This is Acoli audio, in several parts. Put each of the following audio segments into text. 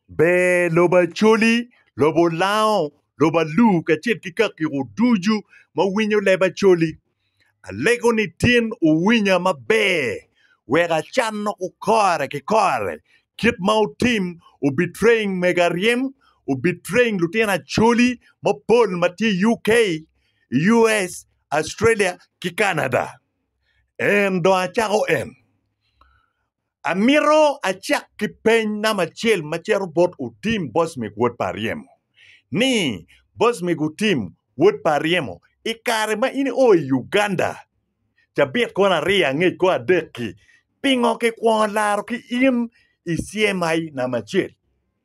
Ber lobo Acholi, lobo Olango, lobo Alur kacel ki kakiko ducu ma winyo leb Acholi. Alego ni tin wuwinya maber wek acanno ku kore ki kore kit ma wutim obitreng mega ryem, obitreng lutino Acholi mapol ma tye i UK, US, Australia ki Canada. En dong acako en. Amito acak ki peny namba acel ma cito bot Otim Bocmik wod pa Aryemo ni, Bocmik Otim wod pa Aryemo, i kare ma in io i Uganda cabit kwan aryo angec kor adek-ki, pingo kikwongo laro ki in i CMI namba acel?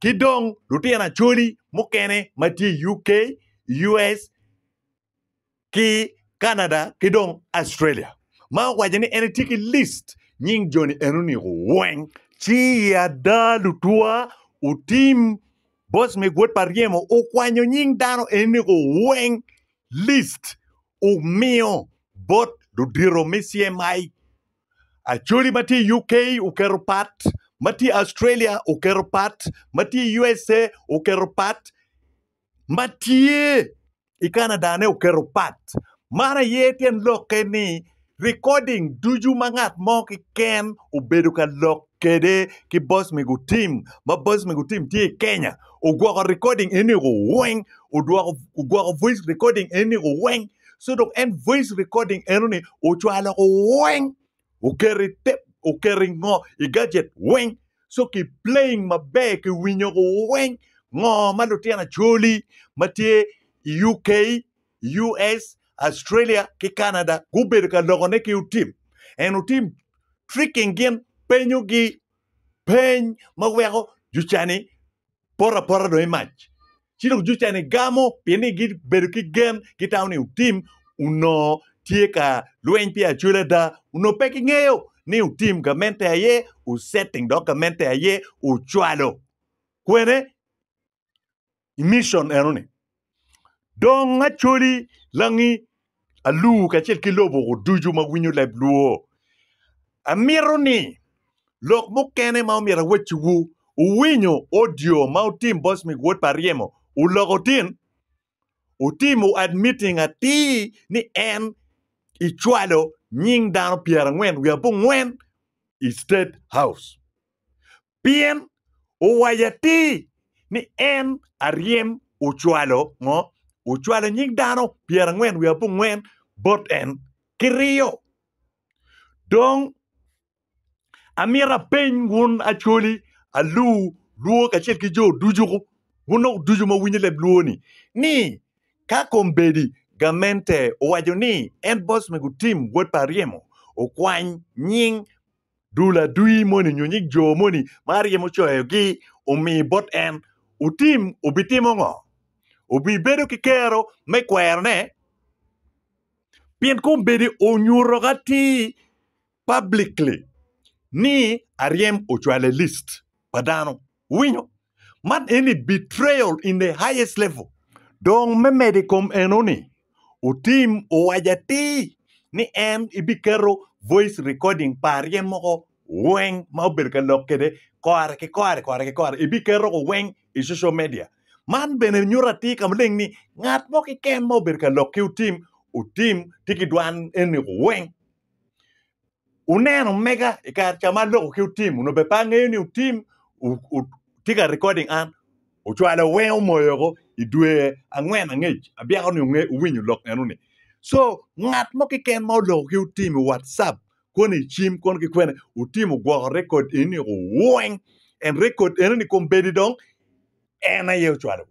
ki dong lutino Acholi mukene ma tye i UK, US, ki Canada ki dong Australia ma owaco ni en etye ki list nying joni enoni weng. Ci i ada lutwa otim bos me gwod pa ryemo okwanyo nying dano enoni weng list omiyo bot ludito me CMI. Acholi ma tye i UK oketo pat, ma tye i Australia oketo pat, ma tye i USA oketo pat, ma tye i Canada-ne oketo pat. Man aye tyen lokke ni rikoding ducu ma ngat mo keken obedo ka lok kede ki boss me gutim ma boss me gutim tye i Kenya ogwoko recording eniko weng odwoko ogwoko voice recording eniko weng so dok en voice recording enoni ocwalo ko weng oketo i tep oketo i ngo i gadget weng so ki playing maber ki winyo ko weng ngo ma lutino acoli ma tye i UK US, Australia ki Canada gubedo ka lokone ki otim and otim tricking gin penyo gi peny ma weko jucani poto apota dong imac ci dong jucani gamo pien ni gibedo ki gen gitamo ni otim onongo tye ka lweny pi acwel ada onongo pe gingeyo ni otim gamente aye osetting dok gamente aye ocwalo kwene i mission eno ni dong acoli langi alur kacel ki lobo ducu ma winyo leb lwor amito ni lok mukene ma omyero awacci wu uwinyo audio ma otim Bosmic wod pa ryemo oloko tin otimo admitting atir ni en icwalo nying dano pyerangwen wiye abongwen i state house Pien owaco atir ni en aryem ocwalo ngo? Ocwalo nying dano pyerangwen wiye abongwen bot en ki riyo. Dong amito apeny wun acholi alu lwo kacel ki jo ducu, wun dok ducu ma winyo leb lwo ni, ni ka kombeddi gamente owaco ni en boss me gutim wod pa aryemo okwany nying dul adwi moni nyo nyig jo moni ma aryemo coyogi omi bot en, wutim, wubitimo ngo? Wubibedo ki kero me kwerone? Pien kombeddi onyuto ki atir publicly ni aryem ocwale list pa dano. Wuwinyo? Man eni betrayal in the highest level. Dong me medo i kom enoni, Otim owaco atir ni en ebiketo voice recording pa arye moko weng ma obedo ka lok kwede kore ki kore kore ki kore ebiketo ko weng i social media. Man bene nyuto atir ka maleng ni ngat mo keken ma obedo ka lok ki Otim, Otim tye ki dwan eni ko weng. Wuneno omega i kare ca ma loko ki otim onongo bene pe angeyo ni otim tye ka recording an ocwalo wenge omoyo woko i dwe angwen angec abyeko ni owinyo lok eno ni so ngat mo keken ma oloko ki otim i watsup koni i cim koni ki kwene otim ogwoko record enoni woko weng and record enoni kombeddi dong en aye ocwalo.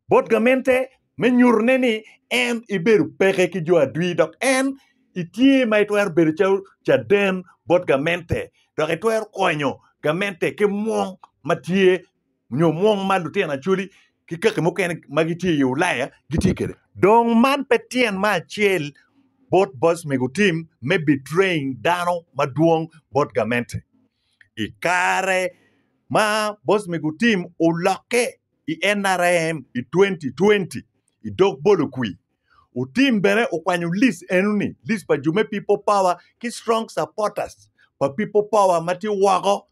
bot gamente me nyutone ni en ibedo peke ki jo adwi dok en itye ma itwero bedo calo caden bot gamente dok itwero konyo gamente ki mwong ma tye nyo mwong ma lutino Acholi ki kaki mukene ma gitye i Ulaya gitye kwede. Dong man pe tyen me acel bot boc me gutim me betraying dano madwong bot gamente. I kare ma boss me gutim olokke i NRM i 2020 i dog bolo kwir, Otim bene okwanyo list enoni, list pa jo me People Power ki strong supporters pa People Power ma tye woko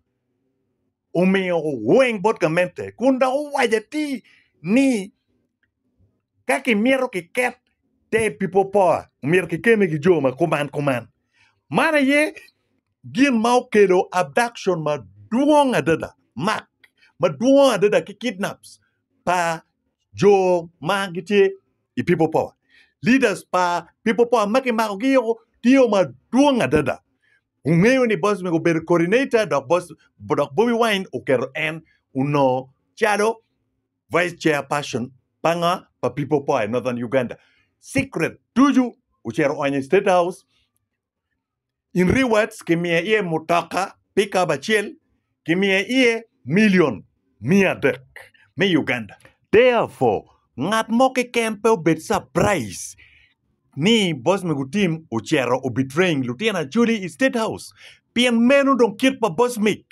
omiyo weng bot gamente kun dok owaco atir ni ka kimito kiket te People Power myero kikeme ki jo ma kuman kuman. Man aye Gin ma okelo abduction madwong adada, mak madwong adada ki kidnaps pa jo ma gitye i People Power, leaders pa People Power ma kimakogi o tye madwong adada. Wungeyo ni boss mego obedo coordinator dok boss dok Bobi Wine oketo en onongo calo vice chair person pa nga pa People Power i Northern Uganda. Secret ducu ocito oonyo i State House. In rewards kimiye iye mutoka pikap acel kimiye iye milion miya adek me Uganda. Therefore, ngat mo keken pe obed surprise ni boss me gutim ocito o betraying lutino acholi i state house pien meno dong kit pa boss mig.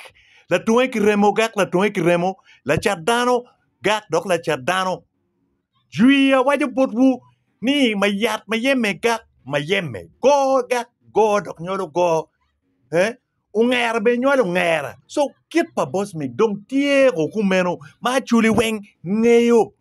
Latunge ki remo gak latunge ki remo, lacat dano gak dok lacat dano. Jwi awaco botwu ni, ma yat ma yemme gak ma yemme, goo gak goo dok nywalo goo, eh, ongera bene nywalo ongera. So kit pa Bosmith dong tye o kumeno ma Acholi weng ngeyo.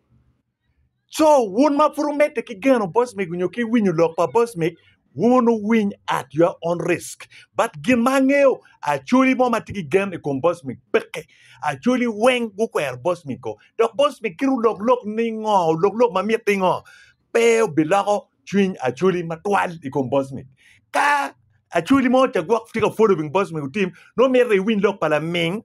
So wun ma pud wumedde ki geno Bosmith nyo ki winyo lok pa Bosmith, Wun wuwiny at your own risk. But gin ma angeyo, Acholi mo ma tye ki gen i kom Bosmic peke. Acholi weng gukwero Bosmic ko. Dok Bosmic kit olok lok ni ngo, olok lok ma mitte ngo, pe obiloko cwiny Acholi matwal i kom Bosmic. Ka Acholi mo ca gwok tye ka follow wing Bosmic otim, nongo mitte iwiny lok pa laming.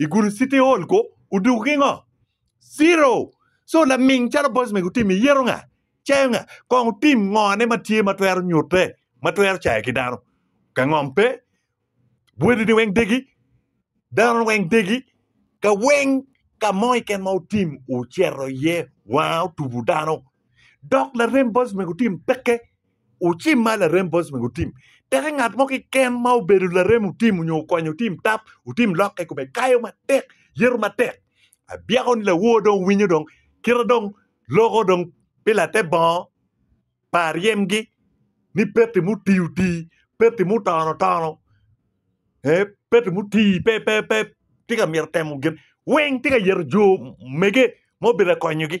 I gudo city hall ko oduku ki ngo? Zero. So laming calo boys mega otim iyeto nga? Icayo nga? Kong otim ngo ne ma tye ma twero nyute ma twero cayo ki dano? Ka ngom pe, wadi ni weng degi, dano weng degi, ka weng ka mo keken ma otim oceto iye wanga otubu dano dok larem bot omego otim peke ocim ma larem bot omego otim. Peke ngat mo kiken ma obedo larem otim onyo okonyo otim tap otim lok ka ikome kayo matek yeto matek abyeko ni lawor dong winyo dong kite dong loko dong pi late bongo pa ryemgi ni peti mutii otii peti mutono otono ee peti mutii pe pe pe tye ka myero temo gin weng tye ka yeto jo mege ma obedo ka konyogi.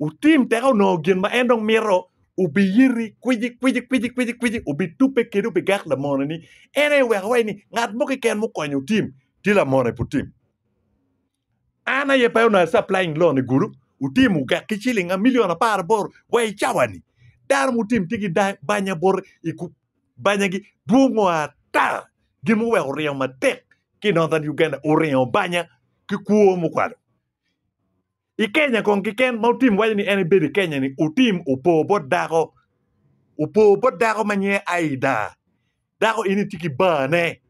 Wutim teka wunongo gin ma en dong mito, wubiyiti kwici kwici kwici kwici kwici, wubitubbe kede wubigak lamone-ni. En aye weko iwaci ni, 'Ngat mo keken mukonyo wutim, tye lamone pe wutim. An aye pe onongo a-supplying loan i gulu, wutim wugak ki ciling milion apar aboro wa i cawa-ni. Dano mutim tye ki dang banya bot i ku banyagi dwongo ata. Gin mogo wek wuringo matek ki i Northern Uganda, wuringo banya ki kwo mukwalo. I Kenya kong keken ma Otim waco ni en ebedo i Kenya ni Otim opo bot dako, opo bot dako ma nyinge Aida. Dako eni tye ki barne,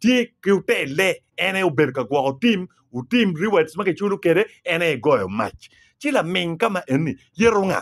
tye ki otelle, en aye obedo ka gwoko tim, Otim rewards ma kiculo kwede en aye goyo mac. Ci laming ka ma eni yeto nga?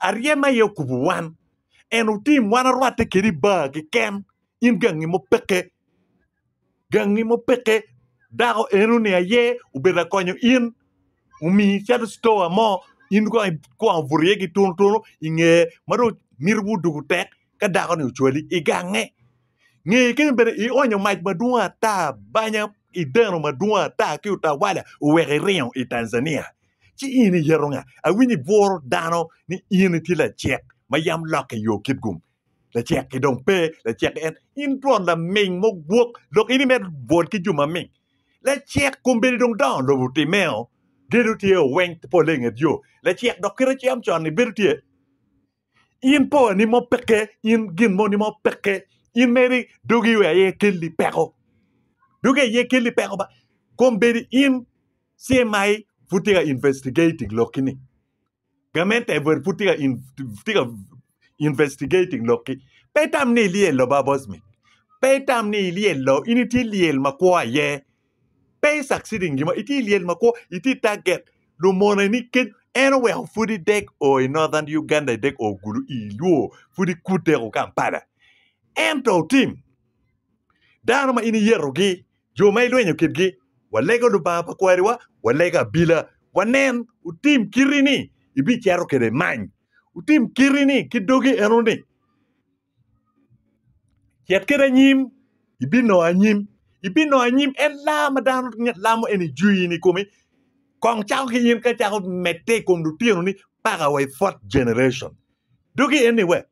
Aryem aye okubo wan. En otim wan arwatte kede i bar keken. In gangi mo peke. Gangi mo peke. Dako eno ni aye obedo ka konyo in. Omiyo icito citoa mo in kong ikwongo buto iye ki tunu tunu i ngeye ma dong miti wudwogo tek ka dako ni ocwali igange. Nge kene bene, ionyo mac madwong ata banya i deno madwong ata ki utawala oweko iringo i Tanzania. Ci in iyeto nga? Awinyo ibworo dano ni in itye lacek ma yam lokke i yo kitgum. Lacek ki dong pe, lacek en. In twon laming mogwok, lok in imedo bwol ki jo maming. Lacek kombeddi dong dongo lobo timeo, gedo tye o weng polle inget yo. Lacek dok kite cam con ni bedo tye. In poni mo peke, in gin moni mo peke. In meri dogi we aye kelli peko. Dogi aye kelli peko ba. Kom bedi in CMI pud tye ka investigating lokki ni. Gamente ever pud tye ka in- tye ka investigating lokki. Pe itam ni ilyel lo ba Bosmic. Pe itam ni ilyel lo. In itye lyel makwo aye. Pe i succeeding gimo, itye lyel ma kwo, itye target lumone ni kec en oweko pud i dek o i northern Uganda i dek o gulu i luo pud i kud dek o Kampala ento otim dano ma in iyeto gi jo ma ilwenyo kit gi wa lego lubanga pa kwari wa wa lego abila wa nen otim kiti ni i bi cero kede many otim kiti ni ki dogi eno ni Cit kede anyim ibinongo anyim ibinongo anyim en laa ma dano lamo eni jwini i kome kong cako ki in ka icako medde i kom lutinoni paka wa i fourth generation doki eni we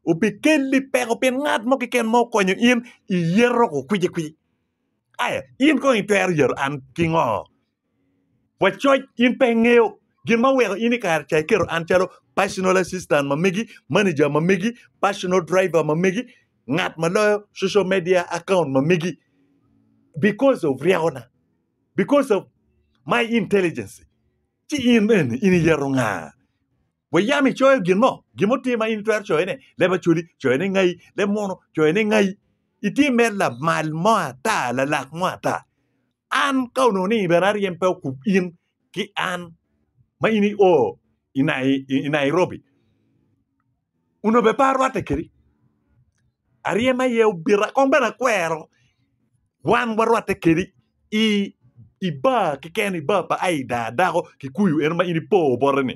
obikelli peko pi ngat mo keken ma okonyo in iyeto kwicikwci aya in kong itwero yeto an ki ngo Wacoc, in pe ingeyo gin ma oweko in i kare ca iketo an calo personal assistant ma megi, manager ma megi, personal driver ma megi, ngat ma loyo social media account ma megi. Because of ryekona, because of my intelligence. Ci in eni, in iyeto nga? Wa yam icoyo gin mo? Gin mo tye ma in itwero coyone? Leb Acholi, coyone ngai? Leb Muno, coyone ngai? Itye mere lamal mo ata, lalak mo ata? An, ka onongo ni bene aryem pe okub in ki an ma in i o i Nairobi, onongo bene pe arwatte kedi. Aryem aye obita kong bene akwero wan warwatte kedi i bar keken, i bar pa Aida Adako Kikuyu eno ma in ipo bote-ni.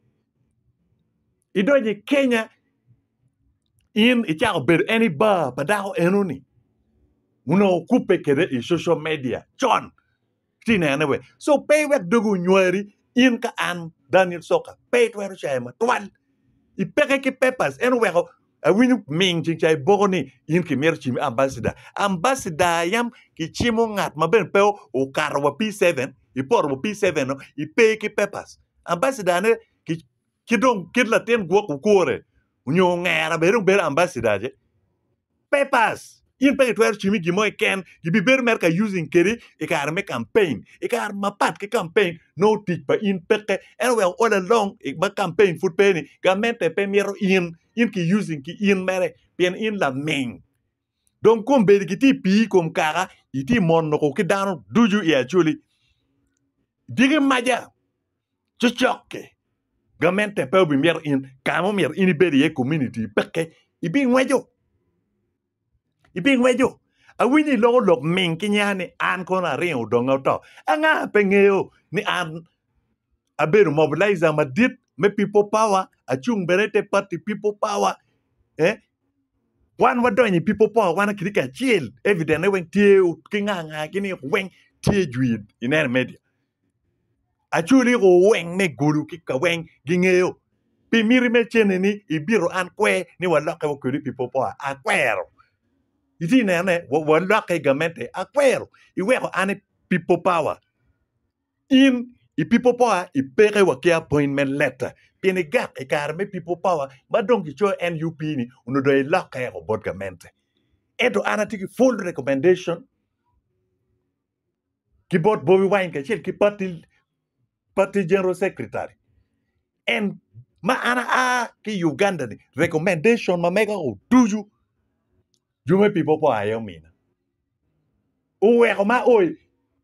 idonyo i Kenya in icako bedo any bar pa dako enoni onongo okubbe kwede i social media con itye ka nene wek so pe iwek dogi onywari in ka an Daniel Coka pe itwero cayo matwal ipeke ki papers en oweko Awinyo ming cing ca iboko ni in ki mito cimi ambassador ambassador yam ki cimo ngat ma bene pe okato wa P seven ipoto wa P seven no ipe ki papers ambassador ne ki ki dong kit latin gwok okwore onyo ongera bene dong bedo ambassador ce papers in pe itwero cimi i gin mo keken, gibibedo mere ka using kedi i kare me campaign, i kare mapat ki campaign nongo tic pa in peke, ento wek all along ma campaign pud pe ni gamente pe mito in, in ki using ki in mere pien in laming. Dong kombeddi gitye i pii i kom kaka itye mono ko ki dano ducu i Acholi. Diki maca. cokke gamente pe obimito in ka ma myero in ibed iye komuniti peke ibingweco ibingweco awinyo iloko lok ming ki nya ni an kono aringo donge oto anga pe ngeyo ni an abedo mobilizer madit me people power acung bene ite party people power wan wadonyo i people power wan kitye kacel evident ne weng tye ki nga nga gi ni weng tye jwir ineno i media. Acwali o weng me gulu ki kaweng gingeyo pi miti me cene ni ibito an kwe ni walokke wa kwedi pi popo a akwero iti neno ne walokke igamente akwero iweko ane pi popa wa in i pi popo a ipeke wa ki appoint me letter pien igak ikare me pi popa wa ma dong ki coyo NUP ni onongo dong ilokke eko bot gamente ento an ati ki full recommendation ki bot Bobi Wine kacel ki party party general secretary en ma an a ki Uganda ni recommendation ma mega o ducu jume people po aye omina uweko ma o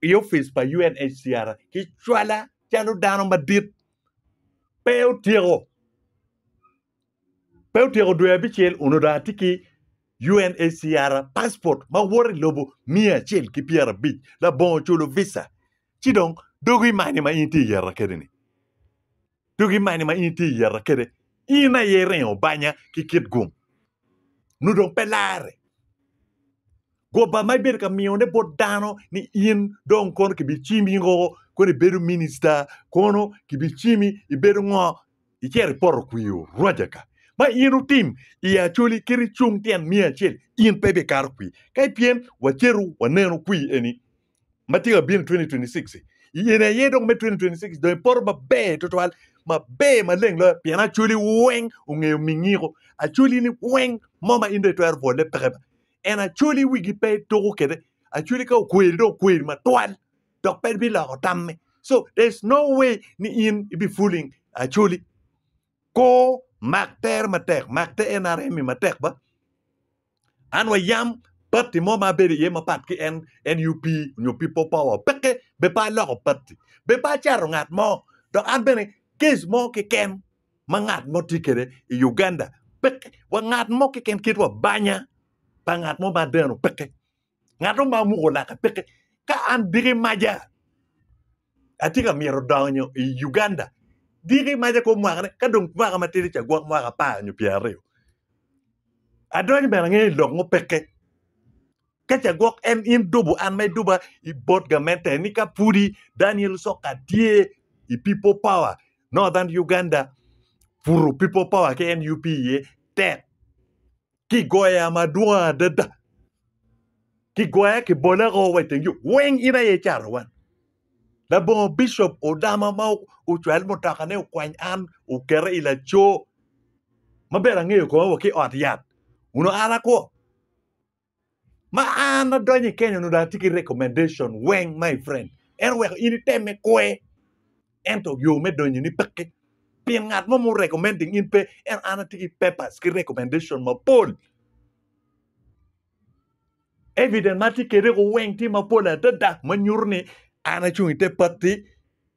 i office pa UNHCR ki cwala calo dano madit pe otyeko Pe otyeko dwe abicel, onongo dong atye ki UNHCR passport ma woto i lobo miya acel ki pyera abic labongo oculo visa ci dong dogi imanyo ma in itye yeta kede ni dogi imanyo ma in itye yeta kede in aye iringo banya ki kit gum nyo dong pe lare goba ma ibedo ka miyo ne bot dano ni in dong kono kibicimi o kono ibedo minister kono kibicimi ibedo ngo Icito i poto kwir Oraja ka ma in otim iye acholi kit icung tyen miya acel, in pe ibikato kwir. Ka ipyem, waceto waneno kwir eni ma tye ka bino i 2026-ci. I eni aye dong me 2026 dong ipoto maber tutwal, maber maleng loyo pien acholi weng ongeyo mingiko. Acolini weng mo ma in dong itwero bwolle peke ba. En acoli wigi pe ituko kwede. Acoli ka okweri dong okweri matwal. dok pe biloko tamme. So there's no way ni in i bi fooling Acholi. Koo mak tere matek, mak te nrm i matek ba. An wa yam party mo ma abedo iye mapat ki en nup nyo people power peke be pe aloko party, be pe acato ngat mo dok an bene case mo keken ma ngat mo tye kede i Uganda peke wa ngat mo keken kit wa banya pa ngat mo ma adeno peke. Ngato ma muko lake peke ka an diki maja atye ka myero donyo i Uganda diki maja kong mwaka ne ka dong mwaka matidi ca gwok mwaka apar nyo pyer aryo adonyo bene angeyo i lok mo peke ka ca gwok en in dubo an ma iduba i bot gamente ni ka pudi Daniel Soka tye i people power Northern Uganda puro people power ki NUP iye tek kigoya madwong adada, kigoya kibole woko wa iteng yo weng in aye icato wan. Labongo bicop odama ma ocwal mutokane okwany an oketa i laco ma bene angeyo kome wa ki ot yat onongo an akwo. Ma an adonyo i Kenya onongo dong atye ki recommendation weng my friend. En oweko in itemme kwe. Ento yo me donyoni peke. Pien ngat mo mu recommending in pe. Ento an atye ki papers ki recommendation mapol. Evidence ma atye kede ko weng tye mapol adada ma nyuto ni an acung i te patti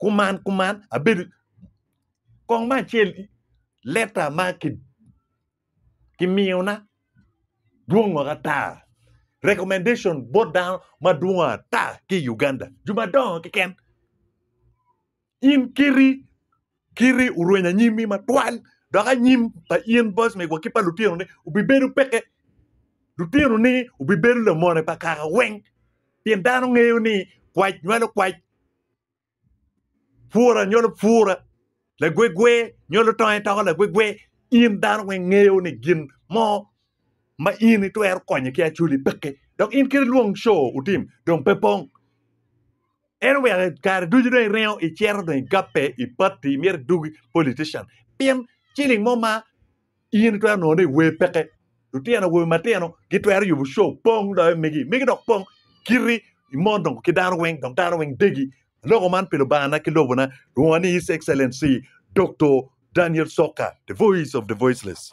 kuman kuman abedo kong me acel leta ma ki kimiyona dwongo ata recommendation bot dano madwongo ata ki i Uganda jo madongo keken in kiti kiti orwenyo anyimmi matwal dok anyim pa in boss me gwok ki pa lutinoni obibedo peke lutinoni obibedo lamone pa kaka weng pien dano ngeyo ni kwac nywalo kwac. Pwora nyolo pwora, lagwegwe nyolo tonge toko lagwegwe. In dano weng ngeyo ni gin mo ma in itwero konye ki Acholi peke dok in kit lwong show utim dong pe pong. En oweko kare ducu dong iringo icito dong igape i party imyero idugi politician pien ciling mo ma In itwero nongo ni wer peke. Lutino awobe matino gitwero yubo show pong loyo megi. Megi dok pong kiti i mon dong ki dano weng dok dano weng degi. Aloko man pi Lubangana ki lobona, lwonga ni His Excellency Doktor Daniel Soka, the voice of the voiceless.